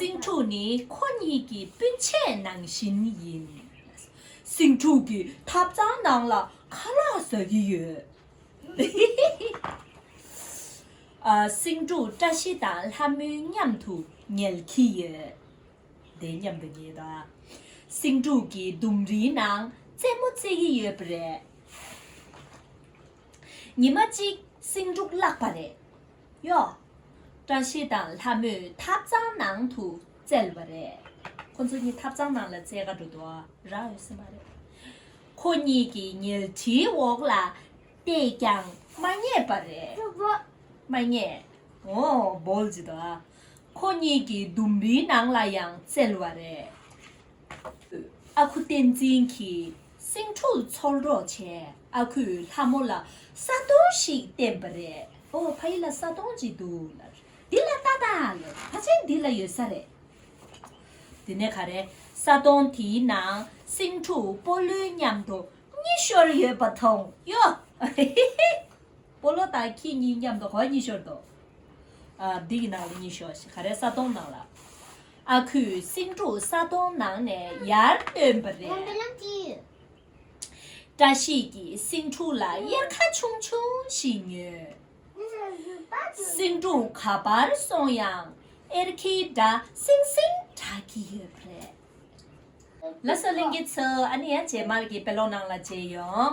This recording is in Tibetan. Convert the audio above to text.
སེང་ཕྲུག་ནི་ཁོ་གཉིས་ཀྱི་སྤུན་མཆེད་ནང་བཞིན་ཡིན། སེང་ཕྲུག་གི་ཐབ་ཚང་ནང་ལ་ཁ་ལག་ཟ་གི་ཡོད། སེང་ཕྲུག་བཀྲ་ཤིས་དང་ལྷ་མོའི་མཉམ་དུ་ཉལ་གྱི་ཡོད། སེང་ཕྲུག་གི་ལྡུམ་རིའི་ནང་རྩེད་མོ་རྩེ་གི་ཡོད་པ་རེད། ཉི་མ་གཅིག་སེང་འབྲུག་བརླག་པ་རེད་གཡོ། བཀྲ་ཤིས་དང་ལྷ་མོས་ཐབ་ཚང་ནང་དུ་བཙལ་བ་རེད། ཁོ་ཚོ་གཉིས་ཐབ་ཚང་ནང་ལ་བཙལ་ག་འགྲོ་འདུག་རག་ཡོད་སྲིད་མ་རེད། ཁོ་གཉིས་ཀྱི་ཉལ་ཁྲིའི་འོག་ལ་བལྟས་ཀྱང་མ་རྙེད་པ་རེད། མ་རྙེད། ཨོ་འབོལ་ཇི་འདུག་ཨ། ཁོ་གཉིས་ཀྱི་ལྡུམ་རིའི་ནང་ལ་ཡང་བཙལ་བ་རེད། ཨ་ཁུ་བསྟན་འཛིན་གྱིས་སེང་ཕྲུག་འཚོལ་རོགས་བྱས་ཨ་ཁུས་ལྷ་མོ་ལ་ས་དོང་ཞིག་བསྟན་པ་རེད་ཨོ་ཕ་ཡིད་ལ་ས་དོང་ཅིག་འདུག་ལར་འདི་ལ་ལྟ་ལྟ་ལར་ཕ་ཆེན་འདི་ལ་ཡོད་ས་རེད། དེ་ནས་ག་རེ་ས་དོང་དེའི་ནང་སེང་ཕྲུག་སྤོ་ལོའི་མཉམ་དུ་གཉིད་ཤོར་ཡོད་པ་མཐོང་གཡོ། སྤོ་ལོ་དང་ཁྱེད་གཉིས་མཉམ་དུ་ག་བ་གཉིད་ཤོར་འདུག་ཨ་འདི་ཡི་ནང་ལ་གཉིད་ཤོར་ཞེས་ག་རེ་ས་དོང་ནང་ལ་ཨ་ཁུས་སེང་ཕྲུག་ས་དོང་ནང་ནས་ཡར་བཏོན་པ་རེད། བཀྲ་ཤིས་ཀྱིས་སེང་ཕྲུག་ལ་གཡེར་ཁ་ཆུང་ཆུང་ཞིག་ཉོས། སེང་ཕྲུག་ག་པར་སོང་ཡང་གཡེར་ཁའི་སྒྲ་སིང་སིང་གྲགས་ཀྱི་ཡོད་པ་རེད། ལ་སོགས་གླིང་གི་ཚོས་ཨ་ནི་ཡང་རྗེས་མར་གྱི་དཔེ་ཀློག་ནང་ལ་བརྗེས་ཡོང།